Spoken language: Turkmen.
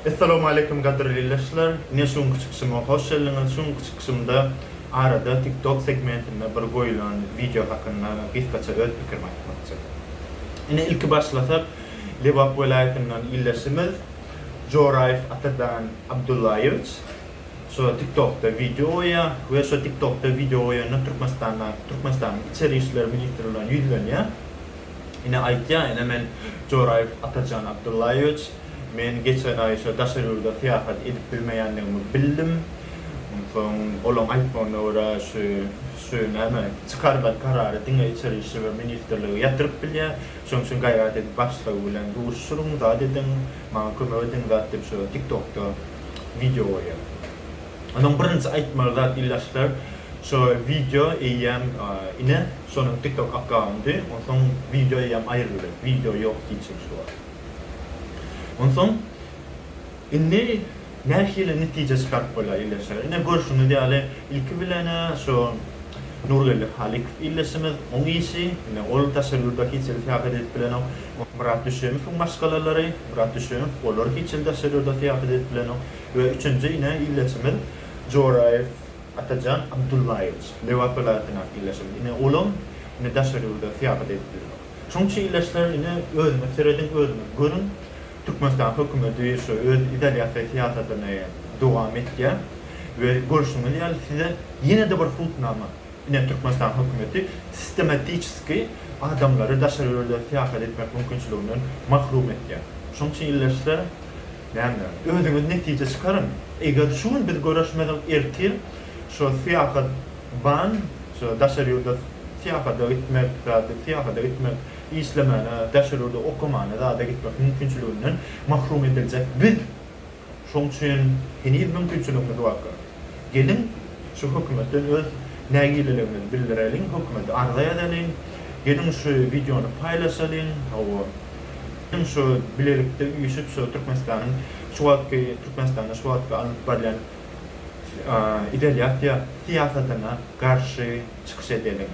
Essalamu Aleýkum gadyrly ildeşler! Ine şu günki çykyşyma hoş geldiňiz. Şu günki çykyşymda arada TikTok segmentinde bir goýulan wideo hakynda gysgaça öz pikirimi aýtmakçy. Ine ilki başlasak Lebap welaýatyndan ildeşimiz Joraýew Atadan Abdullaýewiç şu TikTokda wideo goýýar we şu TikTokda wideo goýanda Türkmenistanda Türkmenistanyň içeri işler ministri bilen ýüzlenýär. Ine aýtýar ine men Joraýew Atajan Abdullaýewiç Men geçen aý şo daşary ýurda syýahat edip bilmeýändigimi bildim. Onsoň olaň aýtmagyna görä şu şu näme çykarylan karary diňe içeri işler ministrligi ýatyryp bilýä. Şoň üçin gaýrat edip başlygy bilen duşuryň zat ediň maňa kömek ediň zat diýip şo tiktokda wideo goýýa. Onuň birinji aýtmaly zat illaşlar şo wideo eýýäm ine şonuň tiktok akkaundy onsoň wideo eýýäm aýryldy wideo ýok hiç kim şu wagt. Onsoň indi nähili netije çykaryp bolýar ildeşler? Ine, görşüňiz ýaly, ilki bilen-ä şu Nurgeldi Halikow ildeşimiz, oň işi, ine, ol daşary ýurda hiç hili syýahat edip bilenok. Myrat Düşemowyň maşgalalary, Myrat Düşemow, olar hiç hili daşary ýurda syýahat edip bilenok. We üçünji, ine, ildeşimiz Joraýew Atajan Abdullaýewiç, Lebap welaýatyndaky ildeşimiz. Ine, olam, ine, daşary ýurda syýahat edip bilenok. Şoň üçin ildeşler ine özüňiz serediň özüňiz görüň Türkmenistan hökümeti şu öz izolýasiýa syýasatyny dowam etýär we görşüňiz ýaly size ýene-de bir hutnama ine Türkmenistan hökümeti sistematiçeskiý adamlary daşary ýurda syýahat etmek mümkinçiliginden mahrum etýär. Şoň üçin ildeşler. Näme? Özüňiz netije çykaryň. Eger şu gün biz göreşmesek, ertir şo syýahat ban, şo daşary ýurda syýahata gitmek, zady syýahata gitmek, işlemäne, daşary ýurda okamana, zada gitmek mümkinçiliginden mahrum ediljek biz. Şoň üçin heniz mümkinçiligimiz barka. Geliň, şu hökümetden öz nägileligimizi bildireliň, hökümete arza ýazalyň, geliň şu wideony paýlaşalyň, hawa, geliň şu bilelikde üýşüp şu Türkmenistanyň şu wagtky Türkmenistanda şu wagtky alnyp barýan izolýasiýa syýasatyna garşy çykyş edeliň.